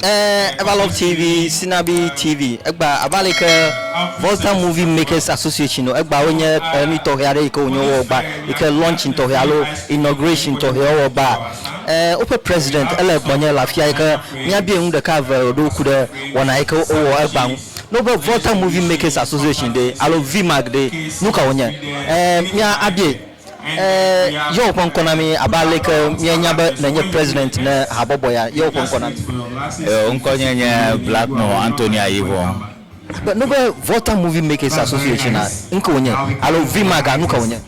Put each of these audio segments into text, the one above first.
Eh, ever love TV, Sinabi TV. Egba abe ale ke Volta Movie Makers Association o. Egba wonye eh, nu tɔxɛ aɖe yi ke wonye wowɔ gba yi ke launching tɔxɛ alo inauguration tɔxɛ wowɔ gba. Eh, woƒe president ele gbɔnye le afia yi ke míabia nu ɖeka eve ɖo ŋku ɖe wɔna yi ke wowɔ egba ŋu. Ne wobe Volta Movie Makers Association ɖe alo VMAC ɖe, nu ka wonye? Eh, mía abia. Ɛɛ, yewo ƒe ŋkɔ na mí abe aleke míenya be nènye President ne habɔbɔ ya. Yewo ƒe ŋkɔ na mí. Ɛɛ, ŋkɔnye nye Blackmore Anthony Ayivong. Be, nu be Volta Movie Makers Association a, nuke wònye? Alo VMAG a, nuke wònye?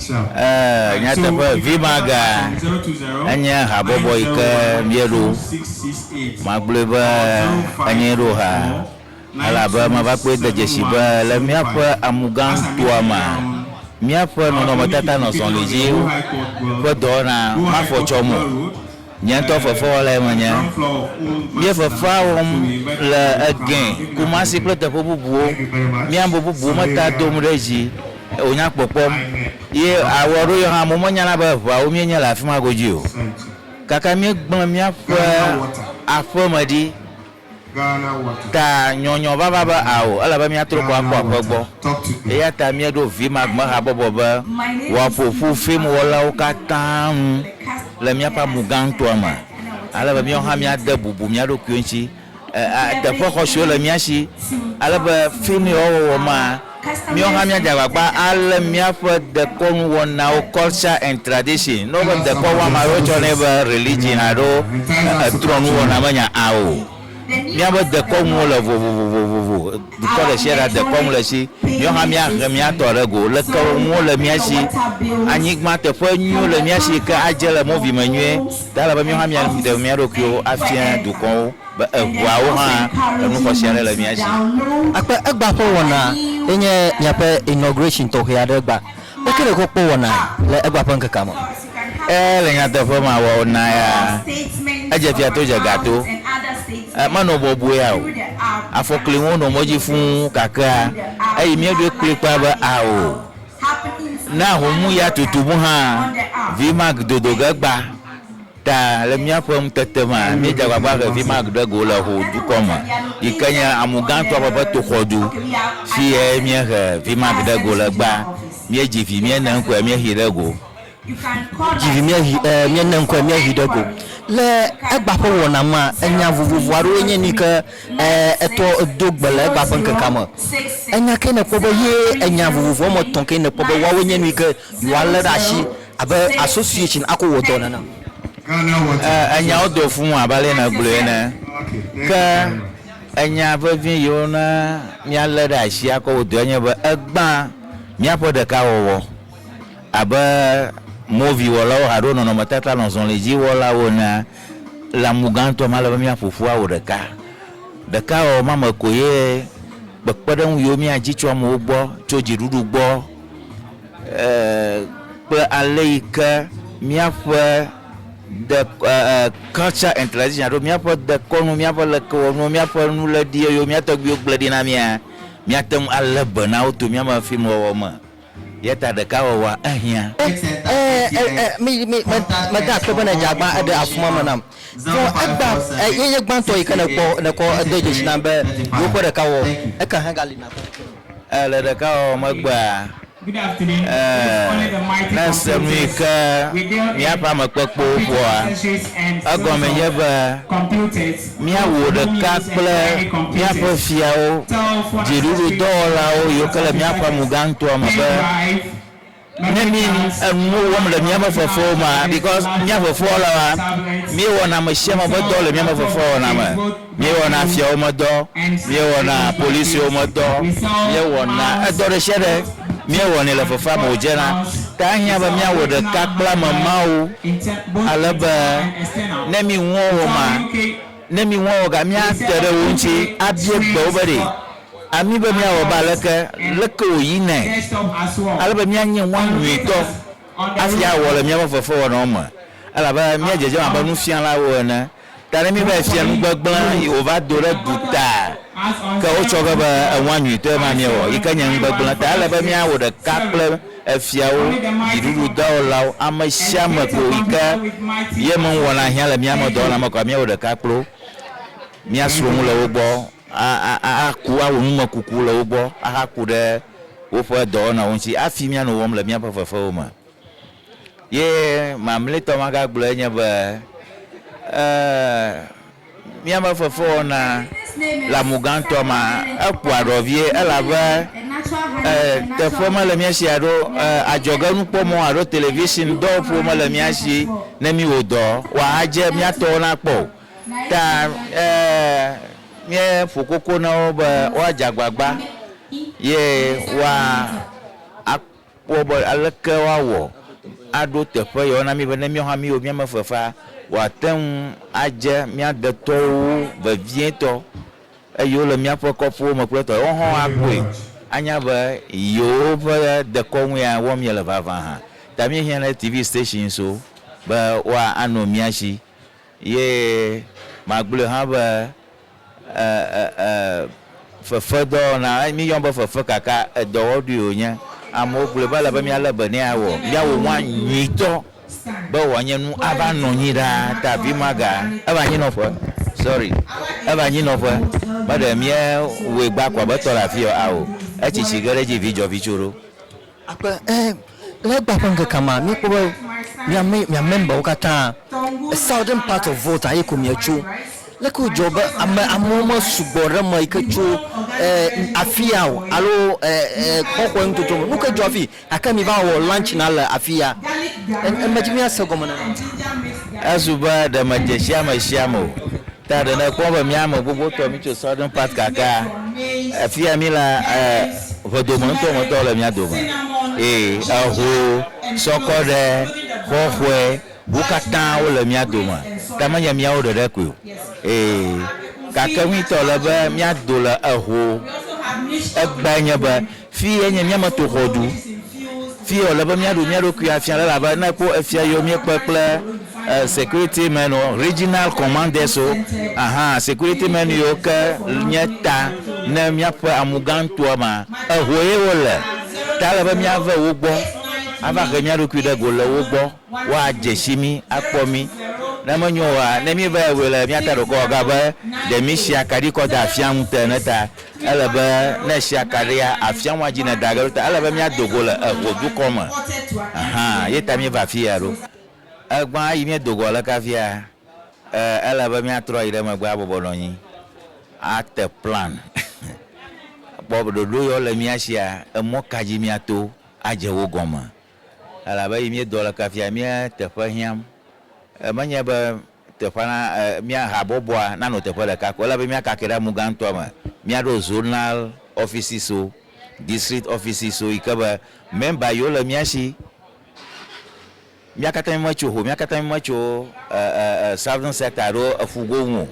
Ɛɛ, nyateƒe, VMAG a enye habɔbɔ yike míeɖo. Magblɔe be enye ɖo ha. elabe mava kpɔe de dzesii be le míaƒe amugãnutoa mea, míaƒe nɔnɔmetata nɔ zɔlidziwo ƒe dɔwɔna ma fɔ tsɔm o. Nye ŋutɔ fefewɔlae menye. Míe fefea wɔm le Egɛ̃, Kumasi kple teƒe bubuwo. Míe ame bubuwo me ta dom ɖe edzi wònya kpɔkpɔm ye awɔ ɖo yɔhã amewo menyana be eŋeawo míe nye le afima godui o. Kaka míegblẽ míaƒe aƒeme ɖi. Ta nyɔnyɔ vava be ao, ele be míatrɔ gbɔ akpɔ aƒe gbɔ. Eya ta míeɖo Vimagbehabɔbɔ be wòaƒo ƒu fim wɔlawo katã nu le míaƒe amu gãtɔa me, ale be míawo hã míade bubu mía ɖokuiwo ŋuti. Teƒe xɔasiwo le mía si ale be fim yewoawɔwɔ ma, Míawo hã míadze agbagba alé míaƒe dekɔnuwɔnawo, culture and tradition, ne woƒe dekɔwuame aɖewo tsɔ nɛ be religion alo trɔnuwɔna menya a o. Míaƒe dekɔnuwo le vovovovovo. Dukɔ ɖesiaɖea dekɔnu le esi. Míawo hã míahe míatɔ ɖe go. Leke nuwo le mía si? Anyigba teƒe nyuiwo le mía si yi ke adze le mɔvime nyuie. Ta ele be míawo hã míaɖe mía ɖokuiwo afia dukɔwo. Be eŋuawo hã enu xɔse aɖe le mía si. Akpe egba ƒe wɔna ye nye miaƒe inauguration tɔxɛ aɖe gba. Ƒe keɖe kɔ kpɔ wɔnae le egba ƒe ŋkekea me. E, le nyateƒe me wɔna ya edze fia to dze ga to. E, menɔ bɔbɔea o. Afɔkliwo nɔ mɔ dzi fũu kakea eyi mía ɖoe kplikpaa be ao. Ne ahomya tutu ŋu hã, Vmac dodo ge gba. Ta, le míaƒe ŋutete mea, míedze agbagba vevi ma ɖe go le Ho dukɔ me, yi ke nye amu gãtɔ ƒe ƒe toxɔdu, si ye míehe vi ma ɖe go le gbea. Míedzi vi, míene ŋkɔe, míexee ɖe go. Dzi vi, míehe, ɛɛ, míene ŋkɔe, míexee ɖe go. Le egba ƒe wɔna mea, enya vovovo aɖewoe nye nu yi ke, ɛɛ, etɔ do gbe le egba ƒe ŋkekea me. Enya kae nèkpɔ be ye enya vovovoa me etɔ̃ kae nèkpɔ be woawoe nye nu yi ke Woalé ɖe asi abe association akɔ wɔ dɔ nene. Ɛɛ, enyawo do fu ŋu abe ale nègblɔe ene. Ke enya vevi yi wona míalé ɖe asi akɔ wɔ dɔe nye be egbã míaƒe ɖekawɔwɔ abe moviwɔlawo alo nɔnɔmetata lɔzɔlidziwɔlawo enea. Le amu gãtɔ me, ele be míaƒo ƒu awu ɖeka. Ɖekawɔwɔ ma me koe kpekpeɖeŋu yiwo míadi tso amewo gbɔ, tso dziɖuɖu gbɔ, kple ale yi ke míaƒe de e culture and tradition alo míaƒe dekɔnu míaƒe lekewɔnuwo míaƒe nuléɖi yiwo mía tɔgbuiwo gblẽ ɖi na mía míate ŋu alé be na wo to míaƒe filmwɔwɔ me eya ta ɖeka wɔwɔa ehiã. Mede akpe be nèdze agbã eɖe afuma me nam. Vɔ egbã ye nye gbãtɔ yi ke nèkpɔ nèkɔ edo dzesi nam be yewo ƒe ɖeka wɔwɔ eka hã gali nakpɔ. Ee, le ɖeka wɔwɔ megbea, ee, ne èse nu yi ke míaƒe amekpekpewo ƒoa, egɔmee nye be mía wò ɖeka kple míaƒe fiawo, dziɖuɖudɔwɔlawo yiwo ke le míaƒe amegãŋutoa me be, Ne mi enuwo wɔm le miaƒe fofowo mea, because mia fofowo lɔa, miewɔna amesiame ƒe dɔ le miaƒe fofoa wɔna me, miewɔna fiawo me dɔ, miewɔna policiwo me dɔ, miewɔna edɔ ɖesiaɖe miewɔnɛ le fofoa me wòdzena ta ehiã be miawɔ ɖeka kple ame mawo ale be ne mi ŋuwo wɔma, ne mi ŋuwo wɔga miate ɖe wo ŋuti abia gbe wo be ɖe Ami be míawɔ be aleke? Leke wòyinae ale be míanye ŋua nyuitɔ hafi awɔ le míaƒe fefewɔnawo me? Elabena míedzedzem abe nufialawo ene. Ta ne míeva yi fia nu gbegblẽ yi wòva do ɖe duta, ke wotsɔ ge be eŋua nyuitɔe ma míewɔ, yi ke nye nu gbegblẽ, ta ele be míawɔ ɖeka kple efiawo, dziɖuɖudɔwɔlawo, ame sia ame ko yi ke ye ŋu wɔna hiã le míaƒe dɔwɔna me koa, míawɔ ɖeka kpli wo, míasrɔ̃ nu le wo gbɔ. aku awɔ numekuku le wo gbɔ ahaku ɖe woƒe dɔwɔnawo ŋuti hafi míanɔ wɔm le míaƒe fefewo me. Ye mamlɛtɔ magagblɔe nye be míaƒe fefewɔna le amu gãtɔ ma ekpɔa ɖɔ vie elabe teƒe mele mía si alo adzɔgenukpɔmɔ alo television dɔwɔƒewo mele mía si ne míwɔ dɔ wòadze míatɔwo nakpɔ o. ta míeƒo koko na wo be woadze agbagba ye woakpɔ be aleke woawɔ aɖo teƒe yewo na mí be ne míawo hã míewo mía me fefea, wòate ŋu adze mía detɔwo ŋu vevietɔ eye wole míaƒe kɔƒewo me kple etɔ yewo hã akpɔe anya be yewoƒe dekɔnu ya wɔm míele vavã hã. Ta míehiã ɖe TV stations wo be woano mía si. Ye magblɔe hã be e, e, e, fefedɔwɔna, míyɔm be fefe gake edɔwɔɖui wònye. Amewo gblɔe be ele be míalé be nɛ awɔ míawɔ nua nyuitɔ be wòanye nu ava nɔ anyi ɖaa. Ta vi maga eva anyinɔƒe, sorry, eva anyinɔƒe, meɖe míewɔe gbakua be tɔ ɖe afii ɔ, ao, etsi tsi ge ɖe edzi vi dzɔ vi tso ɖo. Akpe, ẽ, le egbea ƒe ŋkekea me, míekpɔ be mía, mí, mía memberwo katã, a southern part of Volta ye ko mietso. Leke wòdzɔ be ame, amewo mesugbɔ ɖe eme yike tso, ẽ, afia o, alo, ẽ, ẽ, kɔƒe nutotoa me. Nuke dzɔ afii? Gake mi va wɔ lunch na le afiya. Ẽ, ẽ, medzi be míase gɔme nenema. Ezu be ɖe medze sia me sia me o. Ta ɖe nèkpɔ be mía me gbogbotɔ mítso Southern Part gakea? Afia mílea, ʋedome ŋutɔ me tɔwo le mía dome. Ee, eho, sɔkɔ ɖe, xɔxɔe, wo katã wole mía dome, ke menye míawo ɖeɖe koe o. Ee, gake ŋuitɔ le be míado le eho. Egbea nye be Fiyae nye mía me to xɔdu. Fiyae wòle be míaɖu mía ɖokui afia le elabe ne ekpɔ efia yiwo míekpe kple security men wo, regional commanders wo, ahan, security men yiwo ke nye ta ne míaƒe amugãtɔa ma, ehoe wole. Ta ele be míave wo gbɔ ava he mía ɖokui ɖe go le wo gbɔ. woadze si mí, akpɔ mí. Ne menyo oa, ne míevae wɔe le mía ta ɖokɔ wɔ ga be ɖe mísi akaɖi kɔ da afia ŋute ene ta, ele be ne èsi akaɖia, afia ŋua dzi nèda ge ɖo ta ele be míado go le eŋo dukɔ me hã. Ye ta míeva afi ya ɖo. Egbã eyi míedo go aleke afia? E, ele be míatrɔ ayi ɖe megbe abɔbɔ nɔ anyi ate plan kpɔ be ɖoɖo yawo le mía sia, emɔ ka dzi míato adze wo gɔme. Elabe eyi míedɔ le kafia mía teƒe hiãm. Menye be teƒea na mía habɔbɔa nanɔ teƒe ɖeka ko, ele be míakake ɖe amu gãtɔa me, míaɖo zonal ɔfisiwo, distrikt ɔfisiwo, yi ke be mɛmba yiwo le mía si, mía katã mímetso ho, mía katã mímetso Southern Sector alo Eƒugo ŋu o.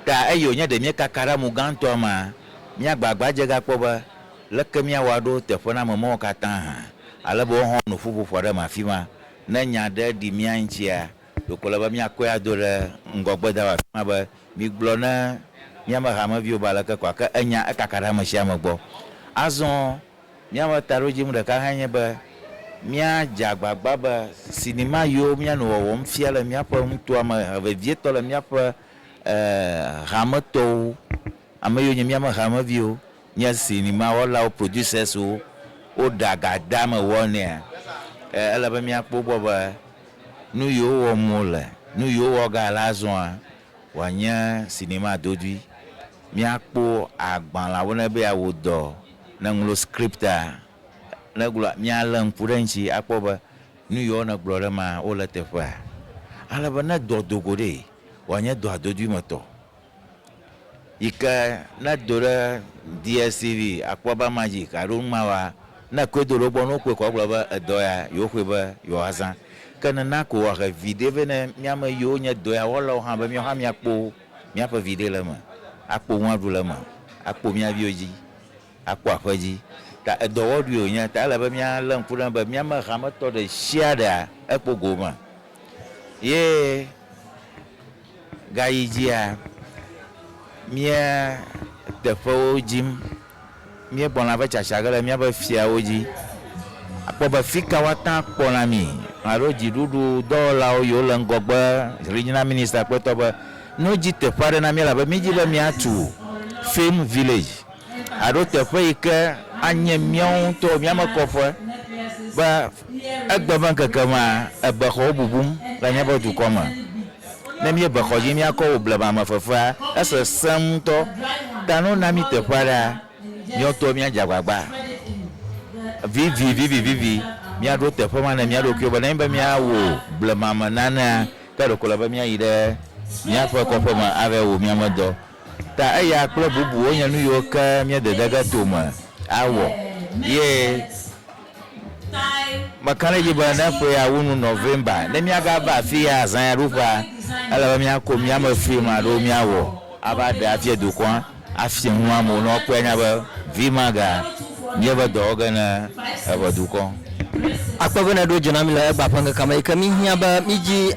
Ta eyi wònye ɖe míekaka ɖe amu gãtɔa mea, míagbagba dze ga kpɔ be, Leke míawɔ aɖo teƒenamemɔ̃wo katã hã ale be woaxɔ nuƒoƒoƒo aɖe me afima? Ne nya aɖe ɖi mía ŋutia, ɖeko ele be míakɔe ado ɖe ŋgɔgbe da ɖe afima be, Migblɔ ne míaƒe hameviwo be aleke kɔ ake enya ekaka ɖe ame sia ame gbɔ. Azɔ míaƒe taɖodzinu ɖeka hãe nye be míadze agbagba be sinima yiwo míanɔ wɔwɔm fia le míaƒe nutoa me vevietɔ le míaƒe hametɔwo, ame yiwo nye míaƒe hameviwo, nye sinima wɔlawo, producers wo, wo ɖa ga deame wɔ nɛa, e ele be mía kpɔ gbɔ be nu yi wo wɔm wo le, nu yi wo wɔ ga le azɔa wa nye sinima dodoe. Mía kpɔ agbalã wo ne be ya wo dɔ, ne ŋlo script a, ne gblɔ mía le ŋku ɖe ŋtsi a kpɔ be nu yi wo ne gblɔ ɖe ma wo le teƒea. Ale be ne dɔ dogo ɖee wa nye dɔa dodoe me tɔ. yi ke ne edo ɖe DSTV akpɔ be ama dzi alo numa wa, ne ekɔe do ɖe wo gbɔ ne wokpɔe kɔa wogblɔ be edɔ ya yewo xɔe be yewoa zã. Ke nena ko woahe viɖe vɛ ne miame yiwo nye dɔ ya wɔlawo hã be miawo hã miakpo miaƒe viɖe le eme, akpo nu aɖu le eme, akpo mia viwo dzi. Akpɔ aƒe dzi. Ta edɔwɔɖui wònye. Ta ele be míalé ŋku ɖe eŋu be mía me hametɔ ɖe sia ɖea ekpɔ gome. Ye ɣeaɣi dzia, míe teƒewo dim. Míekpɔna eƒe tsatsa ge le míaƒe fiawo dzi. Akpɔ be fika woate ŋu akpɔ na mí alo dziɖuɖu dɔwɔlawo yiwo le ŋgɔgbe hlin na Minister Kpɔtɔ be, ne wodi teƒe aɖe na mí elabe mídi be míatu Film Village. aɖo teƒe yi ke anye míawo ŋutɔwo mía me kɔƒe be egbe ƒe ŋkeke mea, ebexɔwo bubum le míaƒe dukɔ me. Ne míebe xɔ dzi míakɔ wɔ blema me fefea, esesẽ ŋutɔ. Ta ne wona mí teƒe aɖea, míawo ŋutɔwo míadze agbagba vivivivivi míaɖo teƒe ma na mía ɖokuiwo be nenye be míawɔ blema me nanea, ke ɖeko ele be míayi ɖe míaƒe kɔƒe me ava wɔ mía me dɔ. Ta eya kple bubuwo nye nuyiwo ke míededege to me awɔ. Ye meka ɖe edzi be ne ƒea wu nu November, ne míagava afiya azãyaɖuƒea, ele be míako míame fim aɖewo míawɔ ava ɖe afia dukɔa, afia nu amewo ne woakpɔe anya be Vmaga míeve dɔ wɔ ge ne eƒe dukɔ. Akpe be nèɖo dzi na mí le Egbea ƒe ŋkekea me yi ke míhiã be mídzi,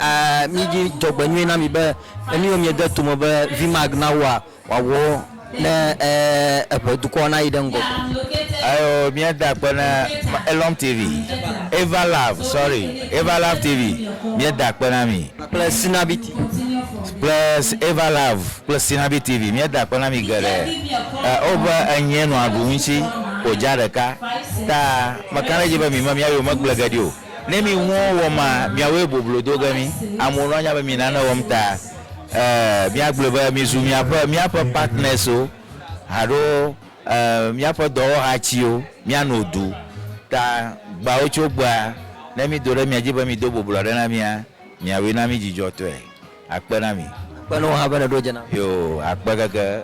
mídzi dzɔgbenyui na mi be Eniɔ miede tome be Vimag na woa wòawɔ ne eƒe dukɔa nayi ɖe ŋgɔ go. Ayo mia da akpe na Elom TV, Eva Love sorry Eva Love TV mia da akpe na mi. Kple Sinabi TV. Kple Eva Love kple Sinabi TV mia da akpe na mi geɖe. Wo be enye nɔa ɖu ŋuti ko dza ɖeka ta meka ɖe edzi be mi me mia yome gble geɖe o. Ne mi ŋuwo wɔ ma, miawoe boblo do ge mi. Amewo nɔ nya be mi nane wɔm ta e mia gblɔe be mi zu miaƒe miaƒe partners wo alo e miaƒe dɔwɔhatsiwo mia no du ta gbawo tso gbea ne mi do ɖe mia dzi be mi do boblo aɖe na mia miawoe na mi dzidzɔ tɔe akpe na mi. Akpe na wò hã be nèɖo dze nam. Yoo, akpe keke.